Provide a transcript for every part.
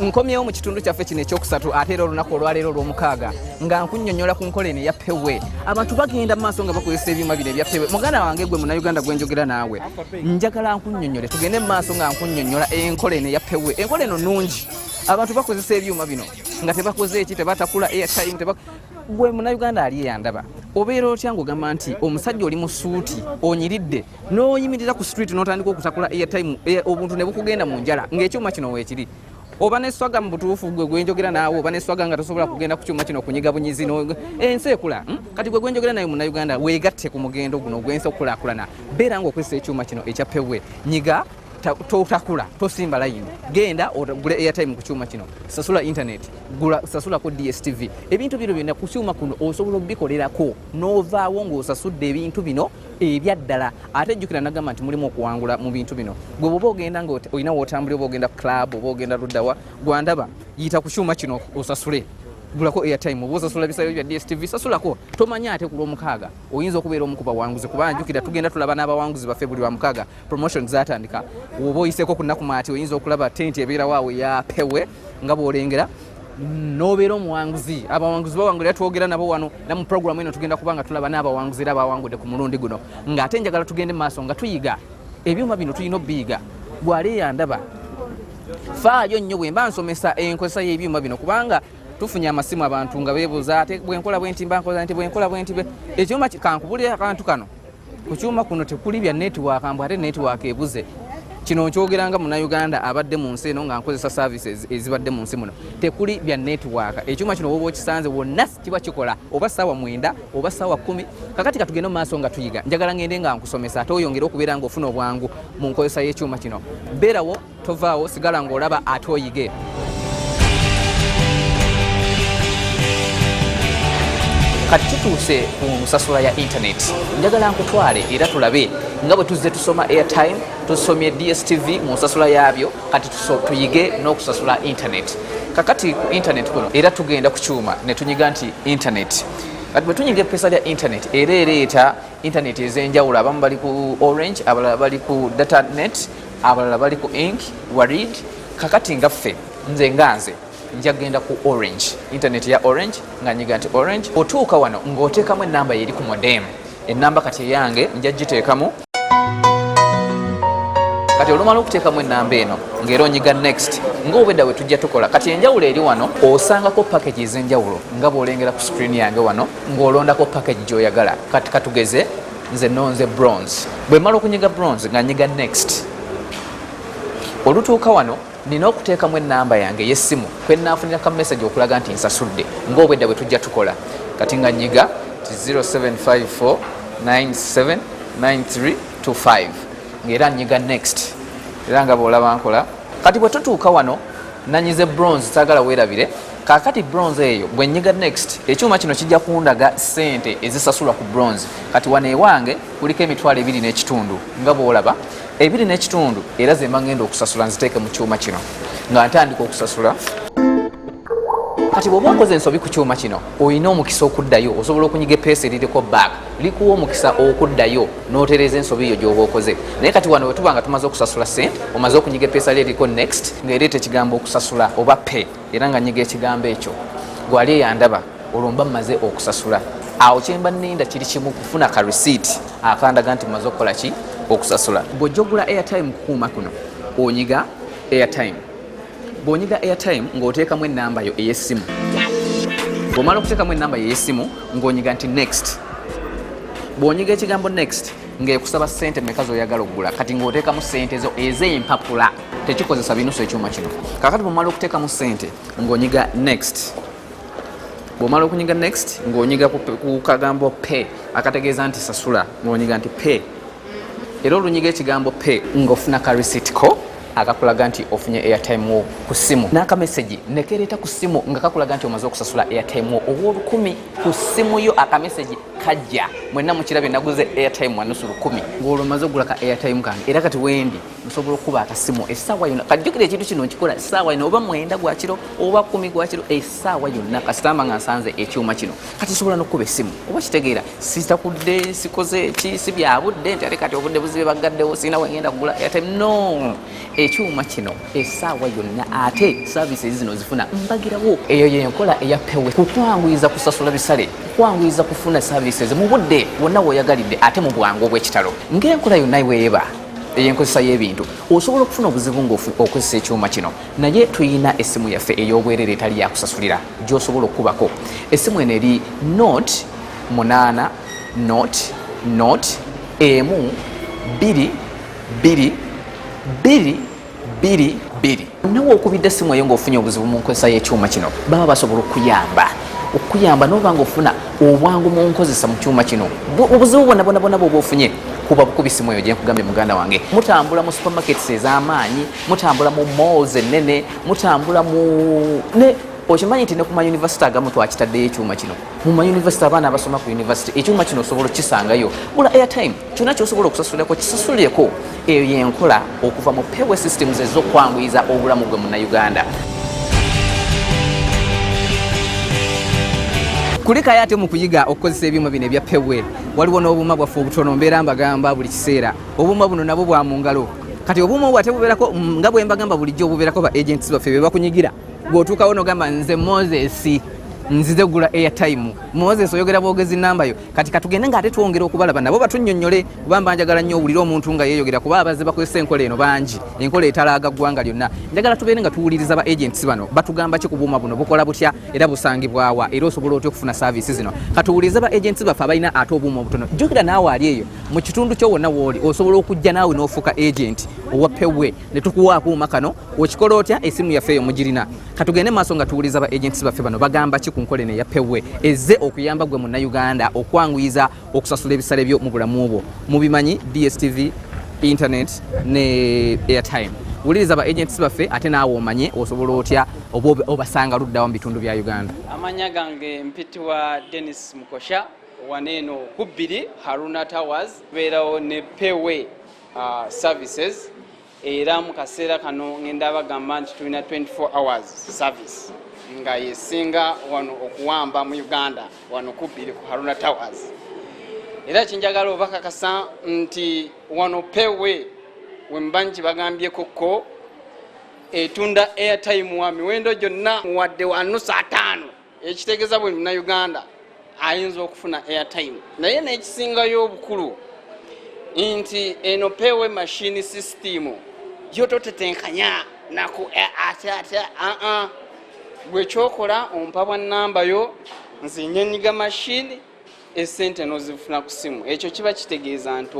nkomyewo mu kitundu kyaffe kino ekyokusatu ate era olunaku olwaleero olwomukaaga nga nkunyonyola ku nkola eno eya pewe abantu bagenda mu maaso nga bakozesa ebyuma bino ebya pewe muganda wange gwe munauganda gwenjogera naawe njagala nkunyonyole tugende mu maaso nga nkunyonyola enkola eno eya pewe enkola eno nungi abantu bakozesa ebyuma bino nga tebakoze eki tebatakula airtime gwe munauganda ali eyandaba obeera otya ngaogamba nti omusajja oli mu suuti onyiridde n'oyimirira ku street n'otandika okutakula airtime eh, obuntu ne bukugenda mu njala ng'ekyuma kino weekiri oba neswaga mu butuufu gwe gwenjogera naawe oba neswaga nga tosobola kugenda ku kyuma kino okunyiga bunyizi ensi ekula hmm? kati gwe gwenjogera naye munauganda weegatte ku mugendo guno ogwensi okukulakulana beera nga okozesa ekyuma kino ekya pewe nyiga totakula tosimba layini genda ogule airtime ku kyuma kino sasula internet gula sasulako dstv ebintu bino byonna ku kyuma kuno osobola obikolerako n'ovaawo ng'osasudde ebintu bino ebyaddala ate jjukira nagamba nti mulimu okuwangula mu bintu bino gwe bwoba ogenda nga olina wotambuli oba ogenda club oba ogenda luddawa gwandaba yita ku kyuma kino osasule gulako airtime oba osasula bisayo bya dstv sasulako tomanya ate ku lwomukaaga oyinza okubeera omu ku bawanguzi kuba njukira tugenda tulaba n'abawanguzi baffe buli lwamukaaga promotion zatandika oba oyiseko ku nnaku maati oyinza okulaba tenti ebeerawo awo eyapewe nga bwolengera nobeera omuwanguzi abawanguzi bawangulira twogera nabo wano na mu programu eno tugenda kuba nga tulaba n'abawanguzi era bawangudde ku mulundi guno ng'ate njagala tugende mu maaso nga tuyiga ebyuma bino tulina obiyiga gwali yandaba faayo nnyo bwe mba nsomesa enkozesa y'ebyuma bino kubanga tufunye amasimu abantu nga beebuuza ate bwenkola bwenti mba nkola nti bwenkola bwenti ekyuma kankubulira akantu kano ku kyuma kuno tekuli bya netiwaaka mbu ate netiwaaka ebuze kino nkyogeranga munauganda abadde mu nsi eno nga nkozesa saavisi ezibadde mu nsi muno tekuli bya netiwaaka ekyuma kino woba okisanze wonna kiba kikola oba saawa mwenda oba saawa kumi kakati katugende mu maaso nga tuyiga njagala ngende nga nkusomesa ate oyongere okubeera nga ofuna obwangu mu nkozesa y'ekyuma kino beerawo tovaawo sigala ng'olaba ate oyige kati tutuuse ku nsasula ya intaneti njagala nkutwale era tulabe nga bwe tuzze tusoma airtime tusomye dstv mu nsasula yaabyo kati tuyige n'okusasula intaneti kakati ku intaneti kuno era tugenda ku kyuma ne tunyiga nti intaneti kati bwe tunyiga epesa lya intaneti era ereeta intaneti ez'enjawulo abamu bali ku orange abalala bali ku data net abalala bali ku ink warid kakati nga ffe nze nga nze njagenda ku orange internet ya orange nga nyiga nti orange otuuka wano ng'oteekamu enamba yeri ku modem enamba kati eyange nja giteekamu kati olumala okuteekamu enamba eno ngaera onyiga next ngaobwedda we tujja tukola kati enjawulo eri wano osangako package ez'enjawulo nga bwolengera ku screen yange wano ng'olondako package gyoyagala kati katugeze nze nonze bronze bwemala okunyiga bronze nga nyiga next olutuuka wano nina okuteekamu enamba yange eyessimu kwenafunira ka message okulaga nti nsasudde ngaobwedda bwe tujja tukola kati nga nyiga ti 0754979325 ngaera nyiga next era nga bwolaba nkola kati bwe tutuuka wano nanyize bronze sagala werabire kakati bronze eyo bwenyiga next ekyuma kino kijja kundaga sente ezisasulwa ku bronze kati wano ewange kuliko emitwalo ebiri n'ekitundu nga bwolaba ebiri n'ekitundu era zemba ngenda okusasula nziteeke mu kyuma kino nga ntandika okusasula kati bwoba okoze ensobi ku kyuma kino olina omukisa okuddayo osobola okunyiga epeesa eririko back likuwa omukisa okuddayo notereeza ensobi eyo gyoba okoze naye kati wano wetuba nga tumaze okusasula sente omaze okunyiga epeesa lyo eriko next ngaereeta ekigambo okusasula oba pay era nga nyiga ekigambo ekyo gwali eyandaba olwo mba mmaze okusasula awo kyemba ninda kiri kimu kufuna ka receipt akandaga nti mmaze okukola ki okusasula bw'ojja ogula airtime kukuuma kuno onyiga airtime bw'onyiga airtime ng'oteekamu ennamba yo ey'essimu bw'omala okuteekamu ennamba yo ey'essimu ng'onyiga nti next bw'onyiga ekigambo next ngaekusaba sente meka zoyagala okugula kati ngaotekamu sente zo ezempapula tekikozesa binusu ekyuma kino kakati bwomala okutekamu sente ngaonyiga next bwomala okunyiga next ngaonyiga kukagambo pe akategeeza nti sasula ngaonyiga nti pe era olunyiga ekigambo pe ngaofuna ka receipt ko akakulaga nti ofunye airtime wo ku simu n'akamesegi nekereeta ku simu nga kakulaga nti omaze okusasula airtime wo ow'olukumi ku ssimu yo akamesegi kajja mwenna mukirabye naguze airtime wanusu lukumi ng'olwo maze okugula ka airtime kange era kati wendi nsobola okukuba akasimu essaawa yonna kajjukira ekintu kino nkikola essaawa yonna oba mwenda gwakiro oba kumi gwakiro essaawa yonna kasitamba nga nsanze ekyuma kino kati nsobola n'okukuba essimu oba kitegeera sitakudde sikoze ki si byabudde nti ate kati obudde buzibe baggaddewo sirina wengenda kugula airtime no ekyuma kino esaawa yonna ate services zino zifuna mbagirawo eyo yenkola eya pewe kukwanguyiza kusasula bisale kukwanguyiza kufuna services mu budde wonna woyagalidde ate mu bwangu obw'ekitalo ng'enkola yonna iweeba eyenkozesa y'ebintu osobola okufuna obuzibu ngaokozesa ekyuma kino naye tulina essimu yaffe ey'obwerere etali yakusasulira gyosobola okukubako essimu eno eri not 8 not not emu 2 biri biri biri biri nawe okubidde essimu eyo ngaofunye obuzibu mu nkozesa y'ekyuma kino baba basobola okuyamba okuyamba noba nga ofuna obwangu mu nkozesa mu kyuma kino obuzibu bwonabonabona bwoba ofunye kuba bukubi essimu eyo gyenkugambye muganda wange mutambula mu supermarkets ez'amaanyi mutambula mu malls ennene mutambula mu okimanyi nti ne ku mayunivasite agamu twakitaddeyo ekyuma kino mu mayunivasite abaana abasoma ku yunivasite ekyuma kino osobola okukisangayo gula airtime kyona kyosobola okusasulirako kisasulireko eyo yenkola okuva mu payway systems ezokwanguyiza obulamu gwe munauganda kulikayo ate mu kuyiga okukozesa ebyuma bino ebya payway waliwo n'obuuma bwaffe obutono mbeera mbagamba buli kiseera obuuma buno nabwo bwa mu ngalo kati obuuma obwo ate bubeerako mm, nga bwe mbagamba bulijjo obubeerako ba agents baffe be bakunyigira gweotuukawo nogamba nze moses nzize gula airtime moses oyogera bwogezi nambayo kati katugende nga ate twongera okubalaba nabo batunyonyole kuba mba njagala nnyo owulire omuntu nga yeeyogera kuba abazze bakozesa enkola eno bangi enkola etalaaga ggwanga lyonna njagala tubeere nga tuwuliriza ba agents bano batugamba ki ku buuma buno bukola butya era busangibwawa era osobola otya okufuna saaviisi zino katuwuliriza ba agents baffe abalina ate obuuma obutono jjukira naawe ali eyo mu kitundu kyo wonna wooli osobola okujja naawe n'ofuuka agenti owapewe ne tukuwa akuuma kano okikola otya esimu yaffe eyo mugirina katugende maaso nga tuwuliza ba agents baffe bano bagamba ki ku nkola eno eya pewe ezze okuyamba gwe munnayuganda okwanguyiza okusasula ebisale byo mu bulamu bwo mubimanyi dstv internet ne airtime wuliriza ba agents baffe ate naawe omanye osobola otya oba obasanga luddawa mu bitundu bya uganda amanya gange mpitiwa denis mukosha waneeno kubbiri haruna towers beerawo ne pewe uh, services era mu kaseera kano ngenda bagamba nti tulina 24 hours service nga yesinga wano okuwamba mu uganda wano kubbiri ku haruna towers era kyenjagala obakakasa nti wano pewe wemba nti bagambyekokko etunda airtime wa miwendo gyonna muwadde wanusa ataano ekitegeza buli munauganda ayinza okufuna airtime naye nekisingayo obukulu nti eno pewe mashini sisitimu yo totetenkanya naku eh, ate ate aa uh-uh. gwekyokola ompa bwa namba yo nze nyenyiga mashini esente nozifuna ku simu ekyo kiba kitegeeza nti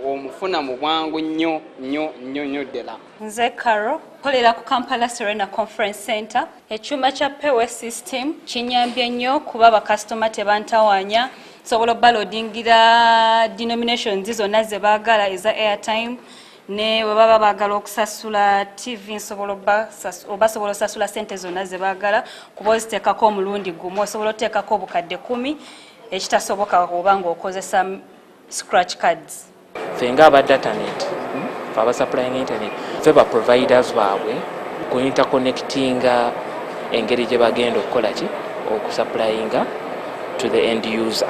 omufuna mu bwangu nnyo nnyo nnyo nnyo ddala nze caro kolera ku kampala serena conference center ekyuma kya pewe system kinyambye nnyo kuba bakasitoma tebantawanya sobola obalodingira denominations zonna zebaagala eza airtime ne bwe baba baagala okusasula ttivi nsobola obasobola osasula ssente zonna ze baagala kuba oziteekako omulundi gumu osobola oteekako obukadde kumi ekitasoboka oba ng'okozesa scratch cards fe nga aba datanet fe abasapulainga internet fe ba providers baabwe ku interconnectinga engeri gye bagenda okukola ki okusapulainga to the end user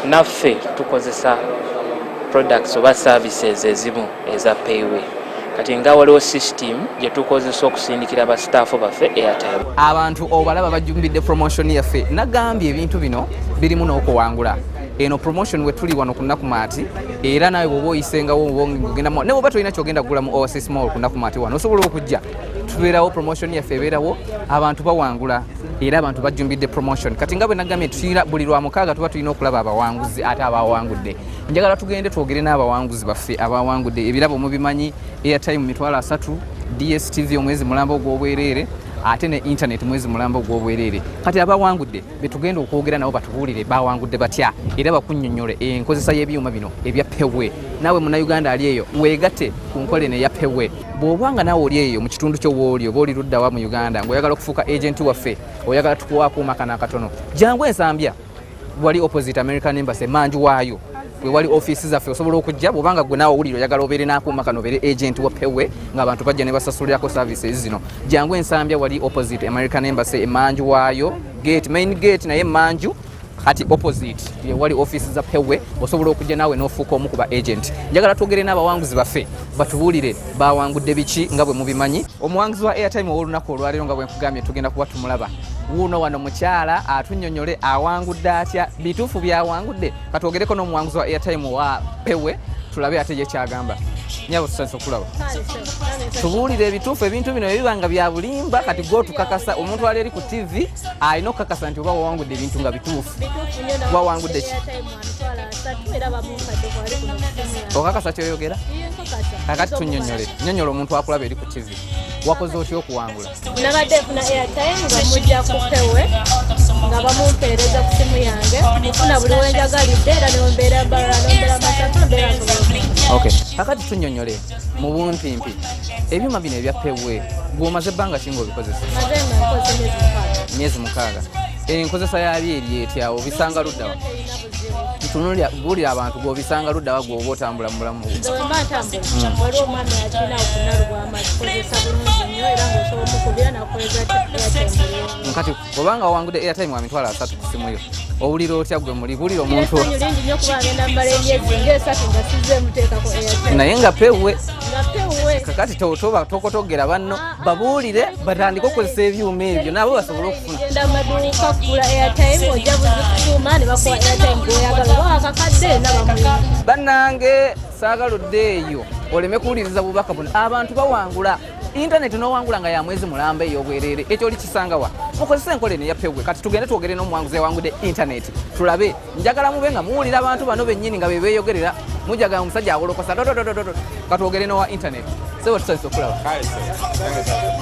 naffe tukozesa products oba services ezimu eza payway kati nga waliwo system gyetukozesa okusindikira ba staff baffe airtime abantu obalaba bajumbidde promotion yaffe nagambye ebintu bino birimu n'okuwangula eno promotion wetuli wano ku nakumaati era nawe bwoba oyisengawo ogenda ne bwoba tolina kyogenda kugula mu oasis mall ku nakumaati wano osobola okujja tubeerawo promotion yaffe ebeerawo abantu bawangula era abantu bajjumbidde promotion kati nga bwe nagambye tuyira buli lwa mukaaga tuba tulina okulaba abawanguzi ate abawangudde njagala tugende twogere n'abawanguzi baffe abawangudde ebirabo mubimanyi airtime mitwalo asatu dstv omwezi mulamba ogw'obwereere ate ne internet mwezi mulamba ogw'obwereere kati abawangudde betugenda okwogera nabo batubuulire bawangudde batya era bakunyonyole enkozesa y'ebyuma bino ebya pewe naawe munauganda ali eyo weegate ku nkola eno eya pewe bw'oba nga nawe oli eyo mu kitundu kyo wooli oba oli luddawa mu uganda ng'oyagala okufuuka agenti waffe oyagala tukuwa akuuma kana akatono jangu ensambya wali opposite american embassy manju waayo wewali ofiisi zaffe osobola okujja bwobanga gwe naawe owulire oyagala obeere n'akuuma kano obeere agenti wa pewe ng'abantu bajja ne basasulirako services zino jangu ensambya wali opposite american embassy emanju waayo gate main gate naye emanju kati opposite yewali office za pewe osobola okujja naawe n'ofuuka omu ku ba agent njagala twogere n'abawanguzi baffe batubuulire bawangudde biki nga bwe mubimanyi omuwanguzi wa airtime ow'olunaku olwaleero nga bwe nkugambye tugenda kuba tumulaba wuuno wano mukyala atunyonyole awangudde atya bituufu byawangudde katwogereko n'omuwanguzi wa airtime wa pewe tulabe ate ye kyagamba nyabo tusanyusa okulaba tubuulire ebituufu ebintu bino ebiba nga byabulimba kati gwotukakasa omuntu ali eri ku ttivi alina okukakasa nti oba wawangudde ebintu nga bituufu wawangudde ki okakasa kyoyogera kakati tunyonyole nyonyola omuntu akulaba eri ku tv wakoze otya okuwangula nabadde funa airtime nga mujja kupewe nga bamumpeereza ku simu yange nfuna buli wenjagalidde era nembeera mbalala nembeera masatu mbeera kakati tunyonyole mu bumpimpi ebyuma bino ebya pewe gwomaze ebbanga ki ngaobikozesa myezi mukaaga enkozesa yabyo eri etyawo obisanga luddawa tunulira bulira abantu gwobisanga luddawa gwoba otambula mubulamu obanga wawangudde airtime wa mitwalo asatu ku simu yo owulira otya gwe muli bulira omuntu naye nga pewwe kakati toba tokotogera banno ah, ah. babuulire batandike okukozesa ebyuma ebyo nabo basobole okufunabanange saagaludde eyo oleme kuwuliriza bubaka buno abantu bawangula intaneti nowangula nga ya mwezi mulamba eyobwerere ekyo oli kisangawa mukozese enkola eno eyapewwe kati tugende twogere n'omuwanguzi ewangude intaneti tulabe njagala mube nga muwulira abantu bano bennyini nga bebeyogerera mujaga omusajja awolokosa dododododo katwogere nowa intaneti sebo tusanyusa okulaba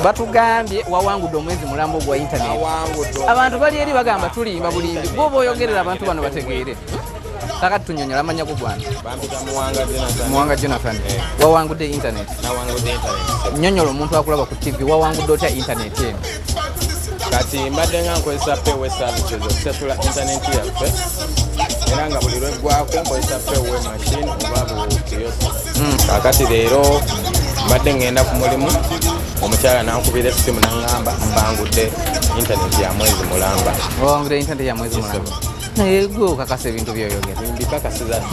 batugambye wawangudde omwezi mulamba ogwa intaneti abantu bali eri bagamba tulimba bulimbi gwoba oyogerera abantu bano bategeere Saka tunyonyola amanya ku bwana. Bampita Muwanga Jonathan. Muwanga Jonathan. Eh. Wawangudde internet. Nawangudde internet. Nyonyola omuntu akulaba ku TV wawangudde otya internet eno. Kati mbadde nga nkozesa pewe services okusasula internet yaffe era nga buli lweggwako nkozesa pewe machine oba buyosa. Hmm. Kakati leero mbadde ngenda ku mulimu omukyala nankubira essimu nangamba mbangudde internet ya mwezi mulamba. Wawangudde internet ya mwezi mulamba. naye gwe okakasa ebintu byoyogera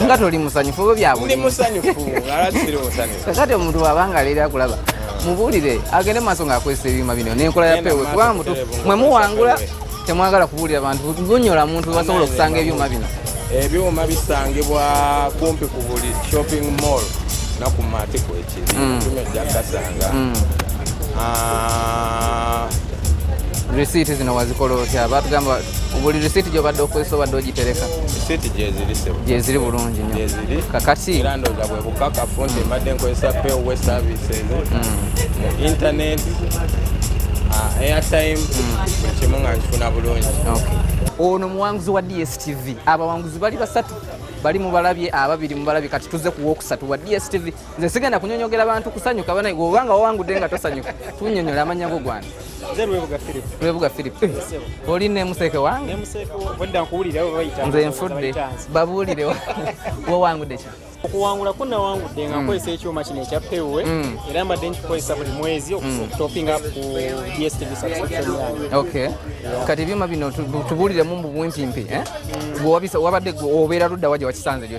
nga toli musanyufu oba byabulkakati omuntu wabanga leero akulaba mubuulire agende maaso ngaakozesa ebyuma bino nenkola ya pewe kuba mutu mwe muwangula temwagala kubuulira bantu bunyola muntu basobola okusanga ebyuma bino ebyuma bisangibwa kumpi ku buli shopping mall nakumatikwe mm. kino jakasanga mm. ah. risiiti zino wazikola otya batugamba buli risiiti gyobadde okozesa obadde ogitereka risiiti gyeziri sebo gyeziri bulungi nyo gyeziri kakati era ndooza bwe bukakafu nti mbadde nkozesa pewe services mu mm. internet ah, airtime buli kimu nga nkifuna bulungi ono muwanguzi wa dstv abawanguzi bali basatu bali mubalabye ababiri mubalabye kati tuze kuwokusatu wa dstv nze sigenda kunyonyogera bantu kusanyuka banaye oba nga wawangudde nga tosanyuka tunyonyola amanya go gwana lwebuga philip oli nemuseeke wange nze nfudde babuulire wawangudde ki okuwangula ko nawangudde nga mm. nkozesa ekyuma kino ekya pewe mm. era mbadde nkikozesa buli mwezi mm. okutopinga ku dstv subscription kati ebyuma bino tubuliremu mu bumpimpi eh? wabadde obeera ludda waje wakisanze lyo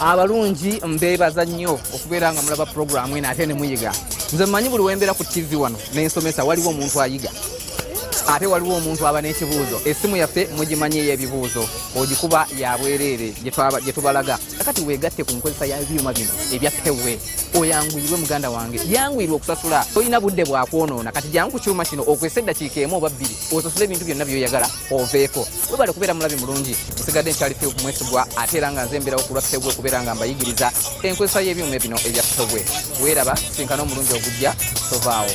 abalungi mbebaza nnyo okubeera nga mulaba puroguramu eno ate nemuyiga nze mumanyi buli wembeera ku tv wano nensomesa waliwo omuntu ayiga ate waliwo omuntu aba n'ekibuuzo essimu yaffe mugimanyi ey'ebibuuzo ogikuba yabwereere gye tubalaga kati weegatte ku nkozesa yabyuma bino ebya pewe oyanguyirwe muganda wange yanguyirwe okusasula tolina budde bwakwonoona kati jangu ku kyuma kino okwesa eddakiika emu oba bbiri osasule ebintu byonna byoyagala oveeko webale kubeera mulabi mulungi nsigadde nkyali fil kumwesigwa ate era nga nze mbeerawo kulwa fewwe kubeera nga mbayigiriza enkozesa y'ebyuma bino ebya fewwe weeraba sinkana omulungi ogujja tovaawo